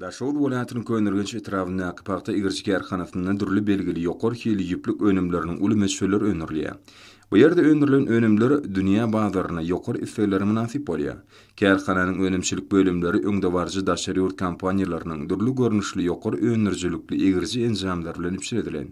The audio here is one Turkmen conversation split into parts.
Daşoguz welaýatynyň Köneürgenç etrabyndaky pagta egiriş kärhanasynda dürli belgili ýokary hilli ýüplük önümleriniň uly möçberleri öndürilýär. Bu ýerde öndürilen önümler dünýä bazaryna ýokary isleglere mynasyp bolýar. Kärhananyň önümçilik bölümleri öňdebaryjy daşary ýurt kompaniýalarynyň dürli görnüşli ýokary öndürijilikli egiriji enjamlar bilen üpjün edilen.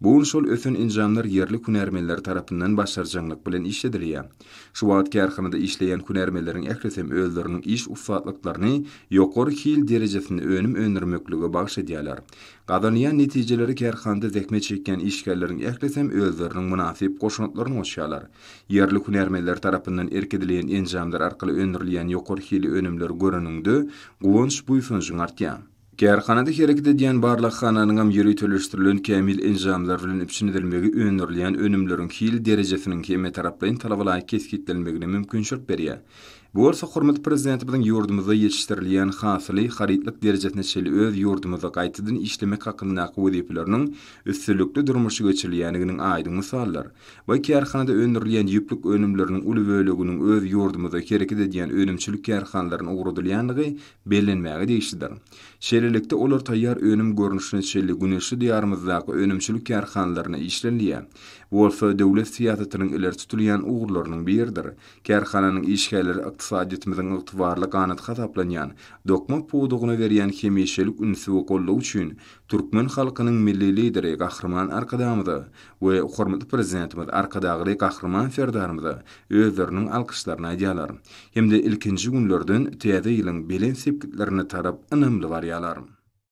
Bu gün şol ösen enjamlar ýerli hünärmenler tarapyndan başarjaňlyk bilen işledilýär. Şu wagt kärhanada işleýän hünärmenleriň ählisem özleriniň iş ussatlyklaryny ýokary hil derejesinde önüm öndürmeklige bagyş edýärler. Gazanylýan netijeleri kärhanada zähmet çekýän işgärleriň ählisem özleriniň mynasyp goşantlaryny goşýarlar. Ýerli hünärmenler tarapyndan erk edilýän enjamlar arkaly öndürilýän ýokary hilli önümleri göreniňde guwanç-buýsanjyň artýar. Kärhanada hereket edýän barlaghananyňam ýöriteleşdirilen kämil enjamlar bilen üpjün edilmegi öndürilýän önümleriň hil derejesiniň hemmetaraplaýyn talabalaýyk kesgitlenmegine mümkinçilik berýär. Bu bolsa hormatly Prezidentimiziň ýurdumyzda ýetişdirilýän hasyly harytlyk derejesine çenli öz ýurdumyzda gaýtadan işlemek hakyndaky wezipeleriniň üstünlikli durmuşa geçirilýändiginiň aýdyň mysaldyr we kärhanada öndürilýän ýüplük önümleriniň uly böleginiň öz ýurdumyzda hereket edýän önümçilik kärhanalaryna ugradylýandygy Bellenmäge degişlidir. Şeýlelikde, olar taýýar önüm görnüşine çenli güneşli Diýarymyzdaky önümçilik kärhanalarynda işlenilýär. Bu bolsa döwlet syýasatynyň ileri tutulýan ugurlarynyň biridir. Kärhananyň işgärleri ykdysadyýetimiziň ygtybarly ganaty hasaplanýan dokma pudagyna berýän hemişelik ünsi we goldawy üçin türkmen halkynyň Milli Lideri Gahryman Arkadagymyza we hormatly Prezidentimiz Arkadagly Gahryman Serdarymyza özleriniň alkyşlaryny aýdýarlar hem-de ilkinji günlerden Täze ýylyň belent sepgitlerine tarap ynamly barýarlar.